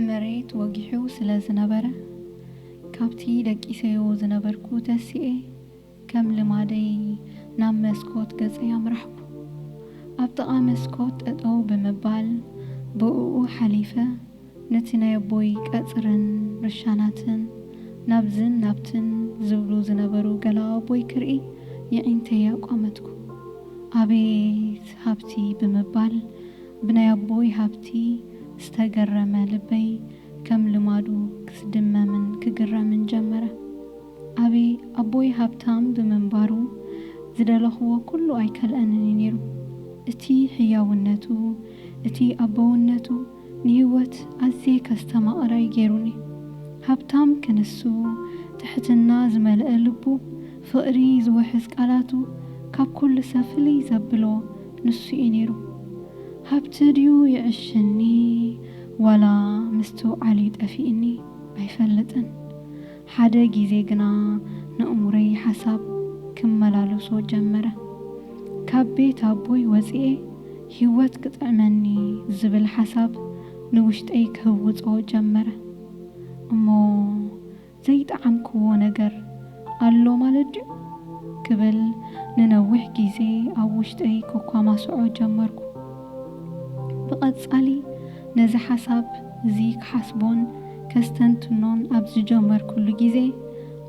መሬት ወጊሑ ስለ ዝነበረ፣ ካብቲ ደቂሰዮ ዝነበርኩ ተሲኤ፣ ከም ልማደይ ናብ መስኮት ገጸይ ኣምራሕኩ። ኣብ ጥቓ መስኮት ጠጠው ብምባል ብእኡ ሓሊፈ። ነቲ ናይ ኣቦይ ቀጽርን ርሻናትን ናብዝን ናብትን ዝብሉ ዝነበሩ ገላው ኣቦይ ክርኢ የዒንተይ ኣቋመትኩ። ኣቤት ሃብቲ ብምባል ብናይ ኣቦይ ሃብቲ ዝተገረመ ልበይ ከም ልማዱ ክስድመምን ክግረምን ጀመረ። ኣቤ ኣቦይ ሃብታም ብምንባሩ ዝደለኹዎ ኩሉ ኣይከልኣንን እዩ ነይሩ። እቲ ሕያውነቱ እቲ ኣቦውነቱ፣ ንህይወት ኣዝየ ከስተማቕረ'ዩ ገይሩኒ። ሃብታም ክንሱ፣ ትሕትና ዝመልአ ልቡ፣ ፍቕሪ ዝውሕዝ ቃላቱ፣ ካብ ኩሉ ሰብ ፍልይ ዘብሎ ንሱ'ዩ ነይሩ። ሃብቲ ድዩ ይዕሽኒ ዋላ ምስትውዓል'ዩ ጠፊእኒ ኣይፈልጥን። ሓደ ግዜ ግና ነእሙረይ ሓሳብ ክመላለሶ ጀመረ። ካብ ቤት ኣቦይ ወጺኤ፣ ህይወት ክጥዕመኒ ዝብል ሓሳብ ንውሽጠይ ክህውጾ ጀመረ። እሞ ዘይጠዓምክዎ ነገር ኣሎ ማለት ድዩ? ክብል ንነዊሕ ግዜ ኣብ ውሽጠይ ከኳማስዖ ጀመርኩ። ብቐጻሊ ነዚ ሓሳብ እዚ ክሓስቦን ከስተንትኖን ኣብ ዝጀመርኩሉ ግዜ፣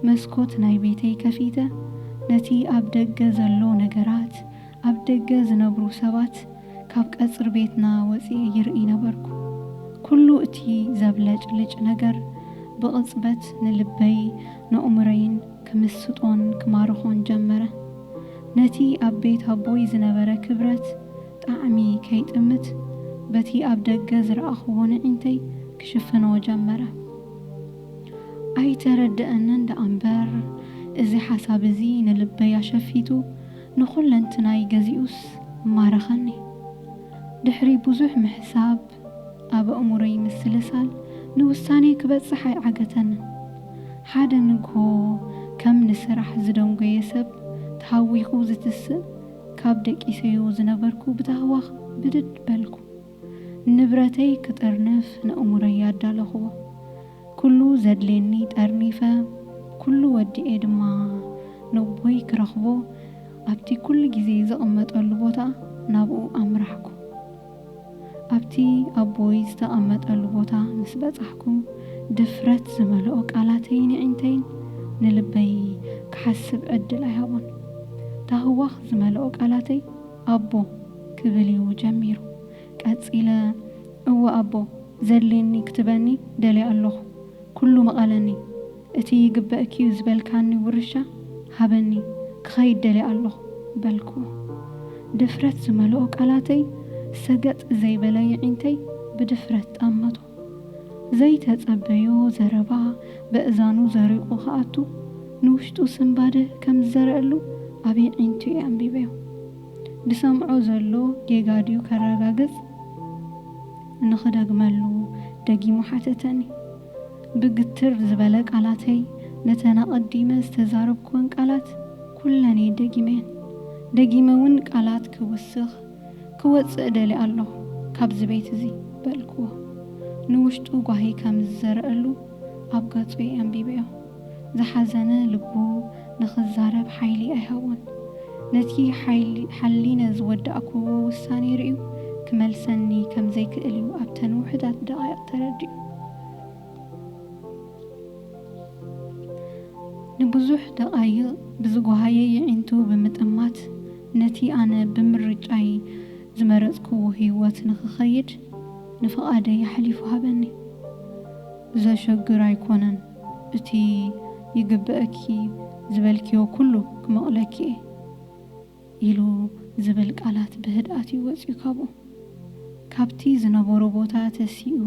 መስኮት ናይ ቤተይ ከፊተ ነቲ ኣብ ደገ ዘሎ ነገራት ኣብ ደገ ዝነብሩ ሰባት ካብ ቀጽሪ ቤትና ወጺኤ ይርኢ ነበርኩ። ኩሉ እቲ ዘብለጭልጭ ነገር ብቕጽበት ንልበይ ነኡምሮይን ክምስጦን ክማርኾን ጀመረ። ነቲ ኣብ ቤት ኣቦይ ዝነበረ ክብረት ጣዕሚ ከይጥምት በቲ ኣብ ደገ ዝረኣኹዎ ነዒንተይ ክሽፍኖ ጀመረ። ኣይተረደኣንን ደኣምበር እዚ ሓሳብ እዚ ንልበይ ኣሸፊቱ ንኹለንትናይ ገዚኡስ ማረኸኒ። ድሕሪ ብዙሕ ምሕሳብ፣ ኣብ ኣእምሮይ ምስልሳል፣ ንውሳኔ ክበጽሕ ኣይዓገተንን። ሓደ ንግሆ ከም ንስራሕ ዝደንጎየ ሰብ ተሃዊኹ ዝትስእ ካብ ደቂሰዮ ዝነበርኩ ብታህዋኽ ብድድ በልኩ። ንብረተይ ክጥርንፍ ነእምሮይ ኣዳለኹዎ። ኩሉ ዘድልየኒ ጠርኒፈ ኩሉ ወዲኤ ድማ ነቦይ ክረኽቦ ኣብቲ ኩሉ ግዜ ዝቕመጠሉ ቦታ ናብኡ ኣምራሕኩ። ኣብቲ ኣቦይ ዝተቐመጠሉ ቦታ ምስ በጻሕኩ ድፍረት ዝመልኦ ቃላተይን የዒንተይን ንልበይ ክሓስብ ዕድል ኣይሃቦን። ታህዋኽ ዝመልኦ ቃላተይ ኣቦ ክብል እዩ ጀሚሩ። ቀጺለ እወ ኣቦ ዘድልየኒ ክትበኒ ደልየ ኣሎኹ ኩሉ ምቐለኒ እቲ ይግበእኪዩ ዝበልካኒ ውርሻ ሃበኒ ክኸይድ ደልየ ኣሎኹ በልኩዎ ድፍረት ዝመልኦ ቃላተይ ሰገጥ ዘይበለ የዒንተይ ብድፍረት ጠመቶ ዘይተጸበዮ ዘረባ በእዛኑ ዘሪቑ ክኣቱ ንውሽጡ ስንባደ ከም ዝዘረኣሉ ኣብ የዒንቱ እየ ኣንቢበዮ። ድሰምዖ ዘሎ ጌጋ ድዩ ከረጋግጽ ንኽደግመሉ ደጊሙ ሓተተኒ። ብግትር ዝበለ ቃላተይ ነተን ኣቐዲመ ዝተዛረብኩወን ቃላት ኩለን እየ ደጊመየን። ደጊመ እውን ቃላት ክውስኽ ክወጽእ እደሊ ኣሎኹ ካብዚ ቤት እዚ፣ በልክዎ። ንውሽጡ ጓሂ ከም ዝዘረኣሉ ኣብ ገጹ ኣንቢበዮ። ዝሓዘነ ልቡ ንኽዛረብ ሓይሊ ኣይሃቦን። ነቲ ሓሊነ ዝወዳእክዎ ውሳኔ ርእዩ ክመልሰኒ ከም ዘይክእል እዩ ኣብተን ውሑዳት ደቓይቕ ተረዲኡ። ንብዙሕ ደቓይቕ ብዝጓሃየ የዒንቱ ብምጥማት፣ ነቲ ኣነ ብምርጫይ ዝመረጽክዎ ህይወት ንኽኸይድ ንፍቓደይ ኣሕሊፉ ሃበኒ። ዘሸግር ኣይኮነን፣ እቲ ይግበእኪ ዝበልክዮ ኩሉ ክመቕለኪ'የ ኢሉ ዝብል ቃላት ብህድኣት'ዩ ወጺኡ ካብኡ። ካብቲ ዝነበሮ ቦታ ተሲኡ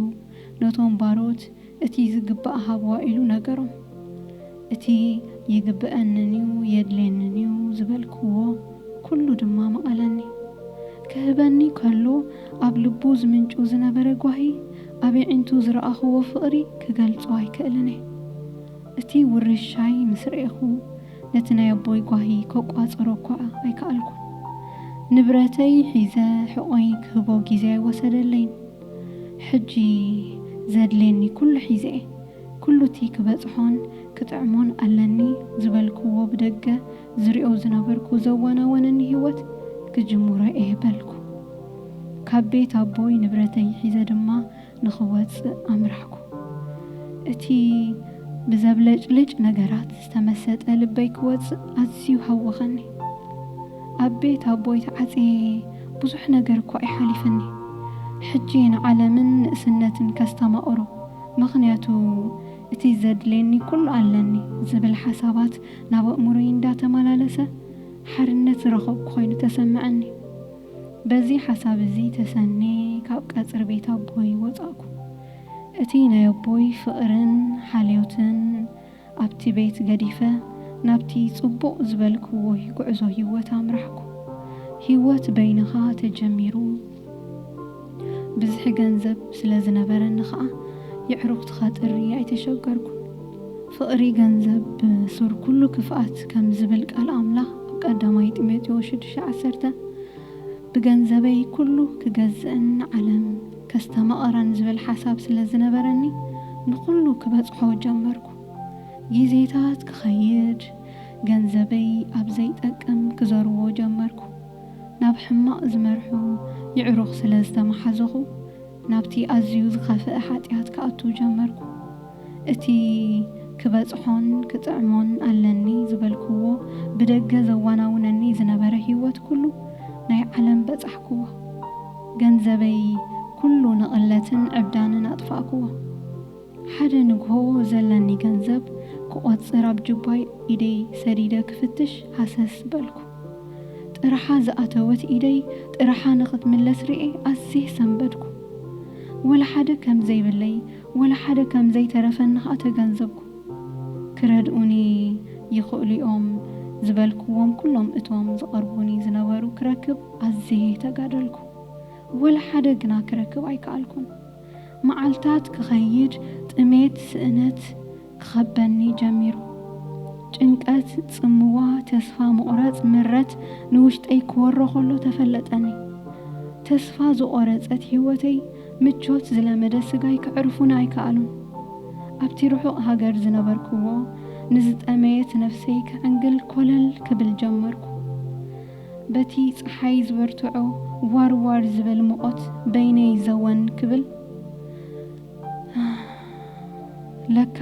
ነቶም ባሮት፣ እቲ ዝግባእ ሃብዋ ኢሉ ነገሮም። እቲ ይግበኣኒን'ዩ፣ የድልየኒን'ዩ ዝበልክዎ ኩሉ ድማ መቐለኒ። ክህበኒ ከሎ ኣብ ልቡ ዝምንጩ ዝነበረ ጓሂ፣ ኣብ የዒንቱ ዝረኣኽዎ ፍቕሪ ክገልጾ ኣይክእልን'የ። እቲ ውርሻይ ምስ ርኤኹ፣ ነቲ ናይ ኣቦይ ጓሂ ከቋጽሮ'ኳ ኣይከኣልኩን። ንብረተይ ሒዘ ሕቖይ ክህቦ ግዜ ኣይወሰደለይን። ሕጂ ዘድልየኒ ኩሉ ሒዘ'የ። ኩሉ'ቲ ክበጽሖን ክጥዕሞን ኣለኒ ዝበልክዎ ብደገ ዝሪኦ ዝነበርኩ ዘዋናወነኒ ህይወት ክጅምሮ'የ በልኩ። ካብ ቤት ኣቦይ ንብረተይ ሒዘ ድማ ንኽወጽእ ኣምራሕኩ። እቲ ብዘብለጭልጭ ነገራት። ዝተመሰጠ ልበይ ክወጽእ ኣዝዩ ሃወኸኒ። ኣብ ቤት ኣቦይ ተዓጽየ ብዙሕ ነገር እኳ እዩ ሓሊፍኒ። ሕጂ ንዓለምን ንእስነትን ከስተማቕሮ፣ ምኽንያቱ እቲ ዘድልየኒ ኩሉ ኣለኒ ዝብል ሓሳባት ናብ ኣእምሮይ እንዳተመላለሰ ሓርነት ዝረኸብኩ ኮይኑ ተሰመዐኒ። በዚ ሓሳብ እዚ ተሰንየ ካብ ቀጽሪ ቤት ኣቦይ ወጻእኩ። እቲ ናይ ኣቦይ ፍቕርን ሓልዮትን፣ ኣብቲ ቤት ገዲፈ ናብቲ ጽቡቕ ዝበልክዎይ ጉዕዞ ሂወት ኣምራሕኩ። ሂወት በይንኻ ተጀሚሩ ብዝሒ ገንዘብ ስለ ዝነበረኒ ከኣ የዕሩኽቲ ከጥሪ ኣይተሸገርኩን። ፍቕሪ ገንዘብ ሱር ኩሉ ክፍኣት ከም ዝብል ቃል ኣምላኽ ኣብ ቀዳማይ ጢሞቴዎስ ሽዱሽተ ዓሰርተ ብገንዘበይ ኩሉ ክገዝእን ዓለም። ከስተማቕረን ዝብል ሓሳብ ስለ ዝነበረኒ ንኹሉ ክበጽሖ ጀመርኩ። ግዜታት ክኸይድ ገንዘበይ ኣብ ዘይጠቅም ክዘርዎ ጀመርኩ። ናብ ሕማቕ ዝመርሑ ይዕሩኽ ስለ ዝተማሓዘኹ ናብቲ ኣዝዩ ዝኸፍእ ሓጢኣት ክኣቱ ጀመርኩ። እቲ ክበጽሖን ክጥዕሞን ኣለኒ ዝበልክዎ ብደገ ዘዋናውነኒ ዝነበረ ህይወት ኩሉ ናይ ዓለም በጻሕክዎ። ገንዘበይ ኩሉ ንቕለትን ዕብዳንን ኣጥፋእክዎ። ሓደ ንግሆ ዘለኒ ገንዘብ ክቖጽር ኣብ ጁባይ ኢደይ ሰዲደ ክፍትሽ ሃሰስ በልኩ። ጥርሓ ዝኣተወት ኢደይ ጥርሓ ንኽትምለስ ርእየ ኣዝየ ሰንበድኩ። ወላ ሓደ ከም ዘይብለይ ወላ ሓደ ከም ዘይተረፈኒ ከኣ ተገንዘብኩ። ክረድኡኒ ይኽእሉ'ዮም ዝበልኩዎም ኩሎም እቶም ዝቐርቡኒ ዝነበሩ ክረክብ ኣዝየ ተጋደልኩ። ወላ ሓደ ግና ክረክብ ኣይከኣልኩን። መዓልታት ክኸይድ ጥሜት፣ ስእነት፣ ክኸበኒ ጀሚሩ። ጭንቀት፣ ጽምዋ፣ ተስፋ ምቑራጽ፣ ምረት ንውሽጠይ ክወሮ ከሎ ተፈለጠኒ። ተስፋ ዝቖረጸት ህይወተይ፣ ምቾት ዝለመደ ስጋይ ከዕርፉኒ ኣይከኣሉን። ኣብቲ ርሑቕ ሃገር ዝነበርኩዎ ንዝጠመየት ነፍሰይ ክዕንግል ኮለል ክብል ጀመርኩ። በቲ ጸሓይ ዝበርትዖ ዋር ዋር ዝብል ሙቖት በይነይ ዘወን ክብል። ለካ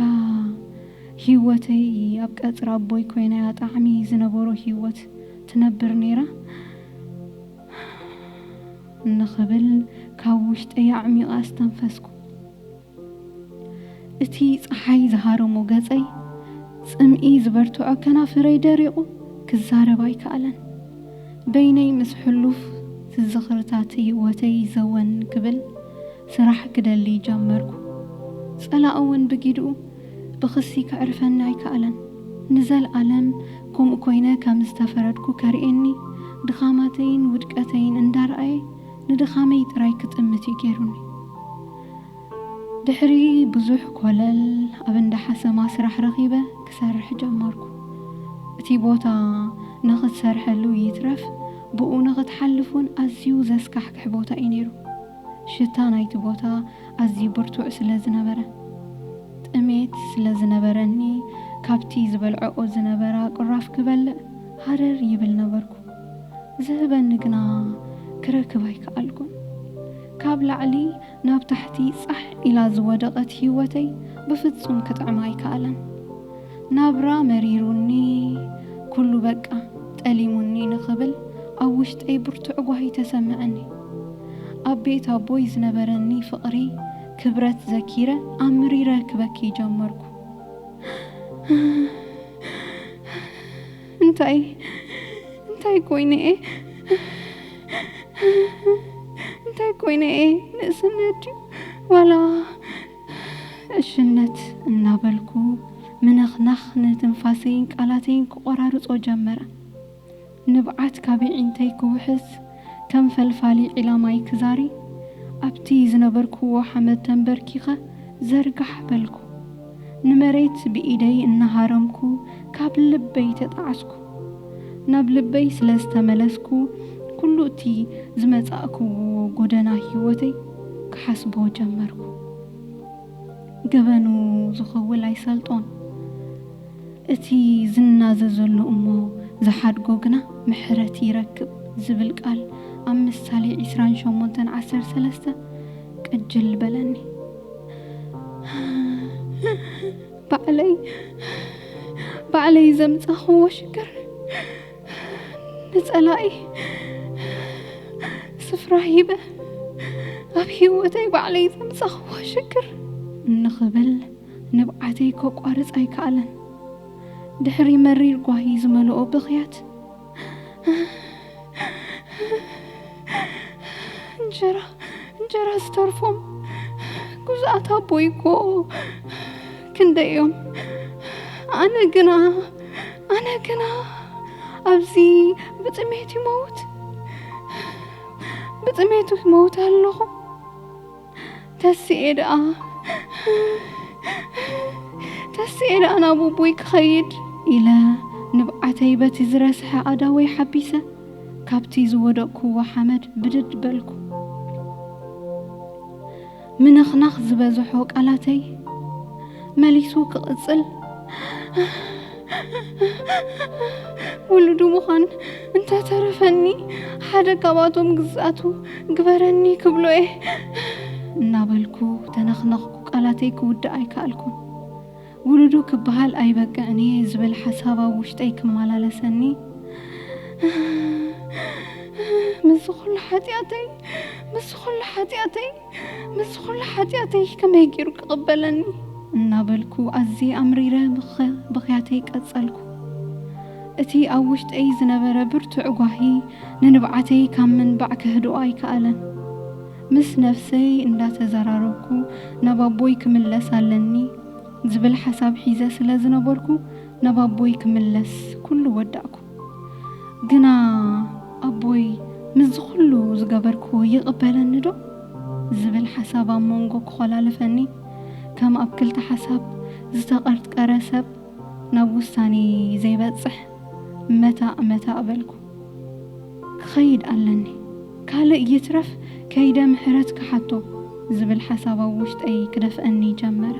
ሂወተይ ኣብ ቀጽሪ ኣቦይ ኮይናያ ጣዕሚ ዝነበሮ ሂወት ትነብር ኔራ እንክብል ካብ ውሽጠይ ኣዕሚቀ ኣስተንፈስኩ። እቲ ጸሓይ ዝሃረሞ ገጸይ፣ ጽምኢ ዝበርትዖ ከናፍረይ ደሪቁ ክዛረብ ኣይከኣለን። በይነይ ምስ ሕሉፍ ትዝኽርታት ሂወተይ ዘወን ክብል ስራሕ ክደሊ ጀመርኩ። ጸላኢ እውን ብጊድኡ ብኽሲ ከዕርፈኒ ኣይከኣለን። ንዘልኣለም ከምኡ ኮይነ ከም ዝተፈረድኩ ከርእየኒ፣ ድኻማተይን ውድቀተይን እንዳርኣየ ንድኻመይ ጥራይ ክጥምት እዩ ገይሩኒ። ድሕሪ ብዙሕ ኮለል ኣብ እንዳ ሓሰማ ስራሕ ረኺበ ክሰርሕ ጀመርኩ። እቲ ቦታ ንኽትሰርሐሉ ይትረፍ ብኡ ንኽትሓልፍ እውን ኣዝዩ ዘስካሕክሕ ቦታ እዩ ነይሩ። ሽታ ናይቲ ቦታ ኣዝዩ ብርቱዕ ስለ ዝነበረ። ጥሜት ስለ ዝነበረኒ፣ ካብቲ ዝበልዐኦ ዝነበራ ቁራፍ ክበልዕ ሃረር ይብል ነበርኩ። ዝህበኒ ግና ክረክብ ኣይከኣልኩን። ካብ ላዕሊ ናብ ታሕቲ ጻሕ ኢላ ዝወደቐት ህይወተይ ብፍጹም ክጥዕማ ኣይከኣላን። ናብራ መሪሩኒ ኩሉ በቃ ጠሊሙኒ ንኽብል ኣብ ውሽጠይ ብርቱዕ ጓሂ ተሰመዐኒ። ኣብ ቤት ኣቦይ ዝነበረኒ ፍቕሪ ክብረት ዘኪረ ኣምሪረ ክበኪ ጀመርኩ። እንታይ እንታይ ኮይነ እየ እንታይ ኮይነ እየ ንእስነት ድዩ ዋላ ዕሽነት እናበልኩ ምንኽናኽ ንትንፋሰይን ቃላተይን ክቖራርጾ ጀመረ። ንብዓት ካብ የዒንተይ ክውሕዝ ከም ፈልፋሊ ዒላ ማይ ክዛሪ ኣብቲ ዝነበርኩዎ ሓመድ ተንበርኪኸ ዘርጋሕ በልኩ። ንመሬት ብኢደይ እናሃረምኩ ካብ ልበይ ተጣዓስኩ። ናብ ልበይ ስለ ዝተመለስኩ ኩሉ እቲ ዝመጻእክዎ ጎደና ሂወተይ ክሓስቦ ጀመርኩ ገበኑ ዝከውል ኣይሰልጦን እቲ ዝናዘዘሉ እሞ ዝሓድጎ ግና ምሕረት ይረክብ ዝብል ቃል ኣብ ምሳሌ ዕስራን ሸሞንተን ዓሰርተ ሰለስተ ቅጅል በለኒ። ባዕለይ ባዕለይ ዘምጻኹዎ ሽግር ንጸላኢ ስፍራ ሂበ ኣብ ሂወተይ ባዕለይ ዘምጻኹዎ ሽግር እንክብል ንብዓተይ ከቋርጽ ኣይከኣለን። ድሕሪ መሪር ጓሂ ዝመልኦ ብኽያት። እንጀራ እንጀራ ዝተርፎም ጉዙኣት ኣቦይ እኮ ክንደይ እዮም ኣነ ግና ኣነ ግና ኣብዚ ብጥሜት ይመውት ብጥሜቱ ይመውት ኣለኹ ተስኤ ደኣ ተስኤ ደኣ ናብ ኣቦይ ክኸይድ ኢለ ንብዓተይ በቲ ዝረስሐ ኣእዳወይ ሓቢሰ ካብቲ ዝወደቕኩዎ ሓመድ ብድድ በልኩ። ምንኽናኽ ዝበዝሖ ቃላተይ መሊሱ ክቕጽል ውሉዱ ምዃን እንተተረፈኒ ሓደ ካብኣቶም ግዝኣቱ ግበረኒ ክብሎ እየ እናበልኩ ተነኽነኽኩ። ቃላተይ ክውድእ ኣይከኣልኩን። ውሉዱ ክበሃል ኣይበቅዕን እየ ዝብል ሓሳብ ኣብ ውሽጠይ ክመላለሰኒ ምስዚ ኩሉ ሓጢኣተይ ምስዚ ኩሉ ሓጢኣተይ ምስዚ ኩሉ ሓጢኣተይ ከመይ ገይሩ ክቕበለኒ? እናበልኩ ኣዝየ ኣምሪረ ብኽያተይ ቀጸልኩ። እቲ ኣብ ውሽጠይ ዝነበረ ብርቱዕ ጓሂ ንንብዓተይ ካብ ምንባዕ ከህድኦ ኣይከኣለን። ምስ ነፍሰይ እንዳተዘራረብኩ ናብ ኣቦይ ክምለስ ኣለኒ ዝብል ሓሳብ ሒዘ ስለ ዝነበርኩ ናብ ኣቦይ ክምለስ ኩሉ ወዳእኩ። ግና ኣቦይ ምስዚ ኹሉ ዝገበርክዎ ይቕበለኒዶ? ዝብል ሓሳብ ኣብ መንጎ ክኾላልፈኒ፣ ከም ኣብ ክልተ ሓሳብ ዝተቐርጥቀረ ሰብ ናብ ውሳኔ ዘይበጽሕ መታእ መታእ በልኩ። ክኸይድ ኣለኒ፣ ካልእ ይትረፍ ከይደ ምሕረት ክሓቶ ዝብል ሓሳብ ኣብ ውሽጠይ ክደፍኣኒ ጀመረ።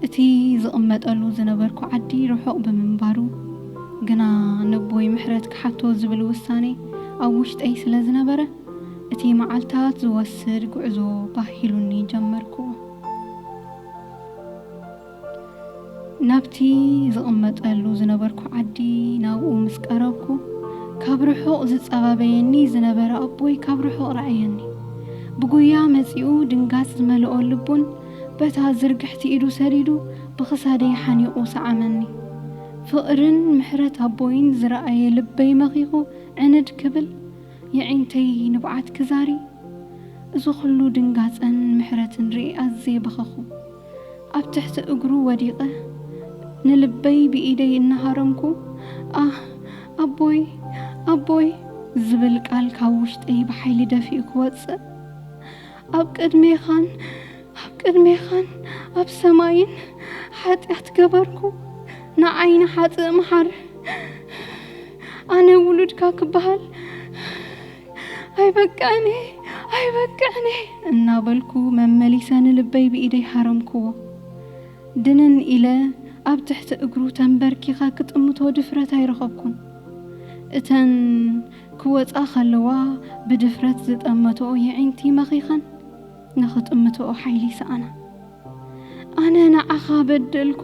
እቲ ዝቕመጠሉ ዝነበርኩ ዓዲ ርሑቕ ብምንባሩ ግና ነቦይ ምሕረት ክሓቶ ዝብል ውሳኔ ኣብ ውሽጠይ ስለ ዝነበረ እቲ መዓልታት ዝወስድ ጉዕዞ ባህ ኢሉኒ ጀመርኩዎ። ናብቲ ዝቕመጠሉ ዝነበርኩ ዓዲ ናብኡ ምስ ቀረብኩ ካብ ርሑቕ ዝጸባበየኒ ዝነበረ ኣቦይ ካብ ርሑቕ ረኣየኒ። ብጉያ መጺኡ ድንጋጽ ዝመልኦ ልቡን በታ ዝርግሕቲ ኢዱ ሰዲዱ ብኽሳደይ ሓኒቑ ሰዓመኒ። ፍቕርን ምሕረት ኣቦይን ዝረኣየ ልበይ መኺኹ ዕንድ ክብል፣ የዒንተይ ንብዓት ክዛሪ፣ እዚ ኹሉ ድንጋጸን ምሕረትን ርእየ ኣዝየ በኸኹ። ኣብ ትሕቲ እግሩ ወዲቐ ንልበይ ብኢደይ እናሃረምኩ ኣህ! ኣቦይ! ኣቦይ! ዝብል ቃል ካብ ውሽጠይ ብሓይሊ ደፊኡ ክወጽእ፣ ኣብ ቅድሜኻን ኣብ ቅድሜኻን ኣብ ሰማይን ሓጢኣት ገበርኩ፣ ንዓይ ንሓጥእ መሓር። ኣነ ውሉድካ ክበሃል ኣይበቅዕን እየ፣ ኣይበቅዕን እየ እናበልኩ መመሊሰ ንልበይ ብኢደይ ሃረምክዎ። ድንን ኢለ ኣብ ትሕቲ እግሩ ተንበርኪኸ ክጥምቶ ድፍረት ኣይረኸብኩን። እተን ክወጻ ከለዋ ብድፍረት ዝጠመትኦ የዒንቲ መኺኸን ንኽጥምትኦ ሓይሊ ይሰኣና። ኣነ ንዓኻ በደልኩ፣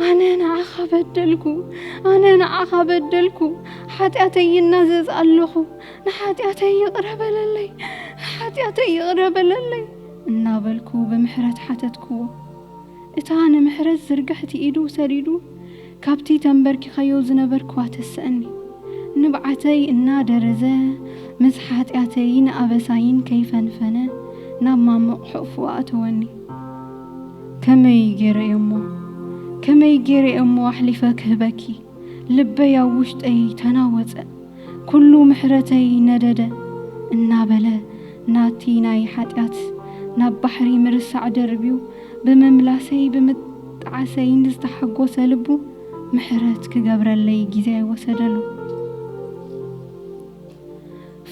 ኣነ ንዓኻ በደልኩ፣ ኣነ ንዓኻ በደልኩ፣ ሓጢኣተይ ይናዘዝ ኣለኹ፣ ንሓጢኣተይ ይቕረ በለለይ፣ ንሓጢኣተይ ይቕረ በለለይ እናበልኩ ብምሕረት ሓተትክዎ። እታ ንምሕረት ዝርግሕቲ ኢዱ ሰዲዱ ካብቲ ተምበርኪኸዮ ዝነበርክዋ ተሰእኒ። ንብዓተይ እናደረዘ ምስ ሓጢኣተይን ኣበሳይን ከይፈንፈነ ናብ ማሙቕ ሕቕፉ ኣእተወኒ። ከመይ ገይረ እየ'ሞ ከመይ ገይረ እየ'ሞ ኣሕሊፈ ክህበኪ? ልበይ ኣብ ውሽጠይ ተናወጸ። ኩሉ ምሕረተይ ነደደ። እናበለ ናቲ ናይ ሓጢኣት ናብ ባሕሪ ምርሳዕ ደርብዩ ብምምላሰይ ብምጥዓሰይን ዝተሓጎሰ ልቡ ምሕረት ክገብረለይ ግዜ ኣይወሰደሉ።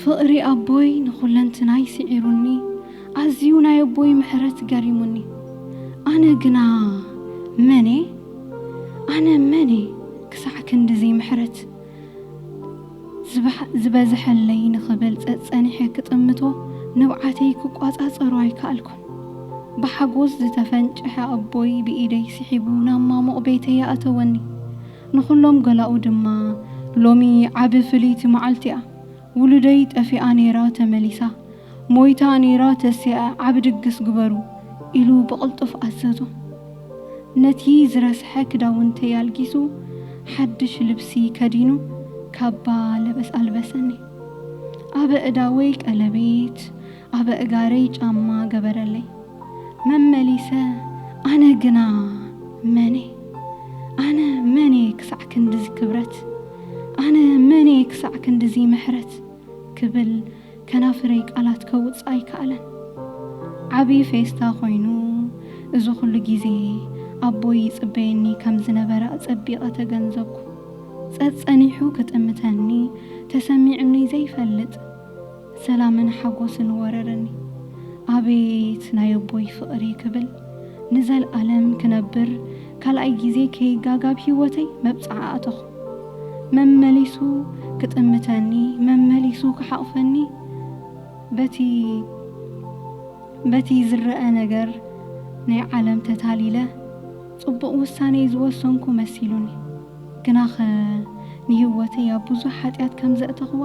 ፍቕሪ ኣቦይ ንኹለንትናይ ስዒሩኒ፣ ኣዝዩ ናይ ኣቦይ ምሕረት ገሪሙኒ። ኣነ ግና መን እየ? ኣነ መን እየ ክሳዕ ክንድዚ ምሕረት ዝበዝሐለይ ንኽብል ጸጸኒሐ ክጥምቶ ንብዓተይ ክቆጻጸሮ ኣይከኣልኩን። ብሓጎስ ዝተፈንጨሐ ኣቦይ ብኢደይ ስሒቡ ናብ ማሙቕ ቤተይ ኣእተወኒ። ንኹሎም ገላኡ ድማ ሎሚ ዓቢ ፍልይቲ መዓልቲ'ያ። ውሉደይ ጠፊኣ ነይራ ተመሊሳ ሞይታ ነይራ ተሲኣ ዓቢ ድግስ ግበሩ ኢሉ ብቕልጡፍ ኣዘዞ ነቲ ዝረስሐ ክዳውንተይ ኣልጊሱ ሓድሽ ልብሲ ከዲኑ ካባ ለበስ ኣልበሰኒ ኣብ ኣእዳወይ ቀለቤት ኣብ ኣእጋረይ ጫማ ገበረለይ። መመሊሰ ኣነ ግና መን'የ? ኣነ መን'የ ክሳዕ ክንድዚ ክብረት? ኣነ መን'የ ክሳዕ ክንድዚ ምሕረት? ክብል ከናፍረይ ቃላት ከውጽእ ኣይከኣለን። ዓቢ ፌስታ ኮይኑ እዚ ኩሉ ግዜ ኣቦይ ይጽበየኒ ከም ዝነበረ ኣጸቢቐ ተገንዘብኩ። ጸጸኒሑ ክጥምተኒ ተሰሚዑኒ ዘይፈልጥ። ሰላምን ሓጎስን ወረረኒ ኣቤት ናይ ኣቦይ ፍቅሪ ክብል ንዘልኣለም ክነብር ካልኣይ ግዜ ከይጋገ ኣብ ሂወተይ መብጽዓ ኣተኹ መመሊሱ ክጥምተኒ መመሊሱ ክሓቅፈኒ በቲ በቲ ዝረኣ ነገር ናይ ዓለም ተታሊለ ጽቡቅ ውሳኔ ዝወሰንኩ መሲሉኒ ግናኸ ንህይወተይ ኣብ ብዙሕ ሓጢኣት ከም ዘእተኽዋ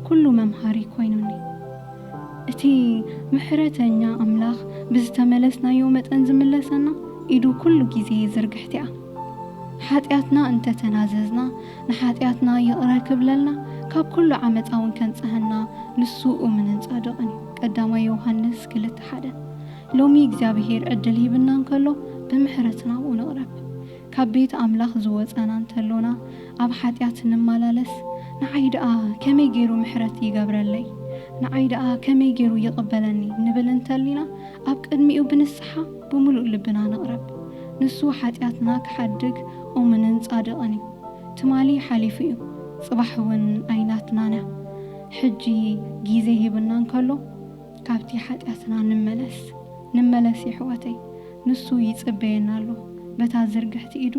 ኩሉ መምሃሪ ኮይኑኒ። እቲ ምሕረተኛ ኣምላኽ ብዝተመለስናዮ መጠን ዝምለሰና ኢዱ ኩሉ ግዜ ዝርግሕቲ'ያ። ሓጢኣትና እንተ ተናዘዝና ንሓጢኣትና ይቕረ ክብለልና ካብ ኩሉ ዓመጻ'ውን ከንጽሃና ንሱ እሙንን ጻድቕን እዩ። ቀዳማይ ዮውሃንስ ክልተ ሓደ። ሎሚ እግዚኣብሄር ዕድል ሂብና እንከሎ ብምሕረት ናብኡ ንቕረብ። ካብ ቤት ኣምላኽ ዝወጸና እንተሎና ኣብ ሓጢኣት ንማላለስ ንዓይ ደኣ ከመይ ገይሩ ምሕረት ይገብረለይ ንዓይ ደኣ ከመይ ገይሩ ይቕበለኒ ንብል እንተሊና ኣብ ቅድሚኡ ብንስሓ ብምሉእ ልብና ንቕረብ ንሱ ሓጢኣትና ክሓድግ ኡምንን ጻድቕን እዩ ትማሊ ሓሊፉ እዩ ጽባሕ ውን ኣይናትናን እያ ሕጂ ጊዜ ሂብና እንከሎ ካብቲ ሓጢኣትና ንመለስ ንመለስ የሕዋተይ ንሱ ይጽበየና ኣሎ በታ ዝርግሕቲ ኢዱ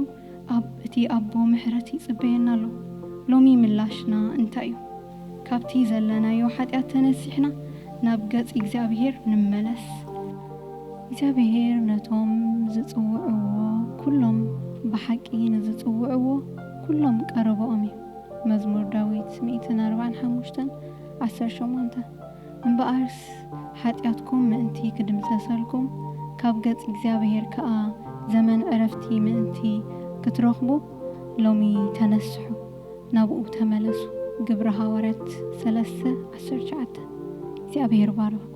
ኣብ እቲ ኣቦ ምሕረት ይጽበየና ኣሎ ሎሚ ምላሽና እንታይ እዩ ካብቲ ዘለናዮ ሓጢኣት ተነሲሕና ናብ ገጽ እግዚኣብሄር ንመለስ እግዚኣብሄር ነቶም ዝጽውዕዎ ኩሎም ብሓቂ ንዝጽውዕዎ ኩሎም ቀረበኦም እዩ መዝሙር ዳዊት ሚእትን ኣርባዕን ሓሙሽተን ዓሰርተ ሸሞንተ። እምበኣርስ ሓጢኣትኩም ምእንቲ ኪድምሰሰልኩም፣ ካብ ገጽ እግዚኣብሄር ከኣ ዘመን ዕረፍቲ ምእንቲ ክትረኽቡ፣ ሎሚ ተነስሑ፣ ናብኡ ተመለሱ። ግብሪ ሃዋርያት ሰለስተ ዓሰርተ ትሽዓተ፣ እግዚኣብሄር ይባርኽኩም።